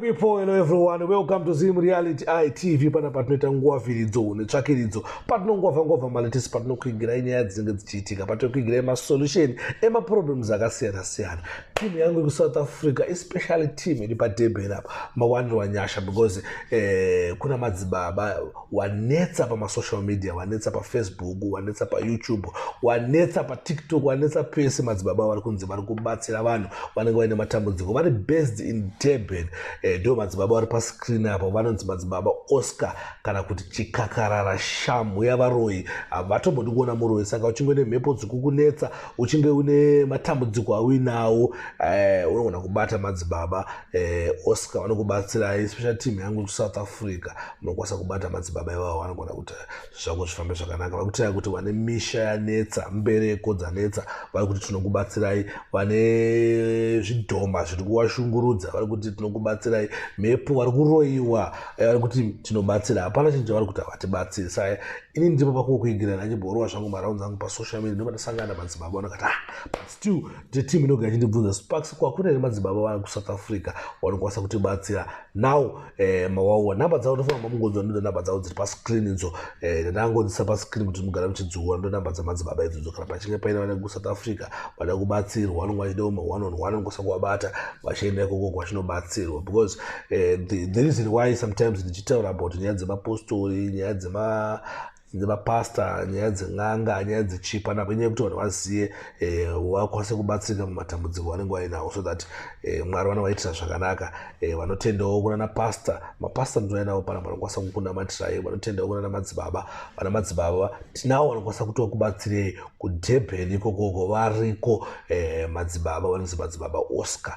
people hello everyone welcome to zim reality itv panapa tinoita nguva viridzo netsvakiridzo patinongova ngova maletisi patinokuigirai nyaya dzinenge dzichiitika patinokuigirai masolution emaproblems akasiyana siyana team yangu yekusouth africa especially team iri padeben apa mawanirwa nyasha because eh, kuna madzibaba wanetsa pamasocial media wanetsa pafacebook wanetsa payoutube wanetsa patiktok wanetsa pese madzibaba vari kunzi vari kubatsira vanhu vanenge vaine matambudziko vari based in deben eh, ndo eh, madzibaba vari pascreen apo vanonzi madzibaba oscar kana kuti chikakarara shamhu yavaroyi havatombodi kuona muroyi saka uchinge une mhepo dzikukunetsa uchinge une matambudziko auinawo eh, unogona kubata madzibaba eh, oscar vanokubatsirai especially team yangu kusouth africa munokwanisa kubata madzibaba ivavo vanogona kuti zvako zvifambe zvakanaka vakutirai kuti vane misha yanetsa mbereko dzanetsa vari kuti tinokubatsirai vane zvidhoma zviri kuwashungurudza vari kuti tinokubatsirai mhepo vari kuroyiwa eh, vari kuti tinobatsira hapana chinhu chavari kuti havatibatsiri sa ini ndipo pakuwo kuigira ndachibhorova zvangu maraunzi angu pasocial media ndobata sangana madzibaba vanakati ah but still the team inogara ichindibvunza sparks kwakune here madzibaba vana kusouth africa vanokwanisa kutibatsira now eh, mawawa nhamba dzavo ndofanamba mungonzwa ndoda nhamba dzavo dziri pascreen idzo eh, ndangonzisa pascreen kuti mugara muchidziura ndo nhamba dzamadzibaba idzodzo kana pachinge paine vana kusouth africa vada kubatsirwa vanonge vachida uma one on one nokwanisa kuvabata vachienda ikoko kwachinobatsirwa because Eh, the, the reason why sometimes ndichitaura about nyaya dzemapostori nyaya dzema dzemapasta nyaya dzen'anga nyaya dzechipa napo inyaya yekuti vanhu vazive eh, vakwanise kubatsirika mumatambudziko vanenge vainawo so that eh, mwari vanovaitira zvakanaka eh, vanotendawo kunana pasta mapasta ndinoainawo pana vanokwanisa kukunamatirai vanotendawo kunana madzibaba vana madzibaba tinawo vanokwanisa kutoa kubatsirei kudhebheni ikokoko variko madzibaba vanonzi madzibaba oscar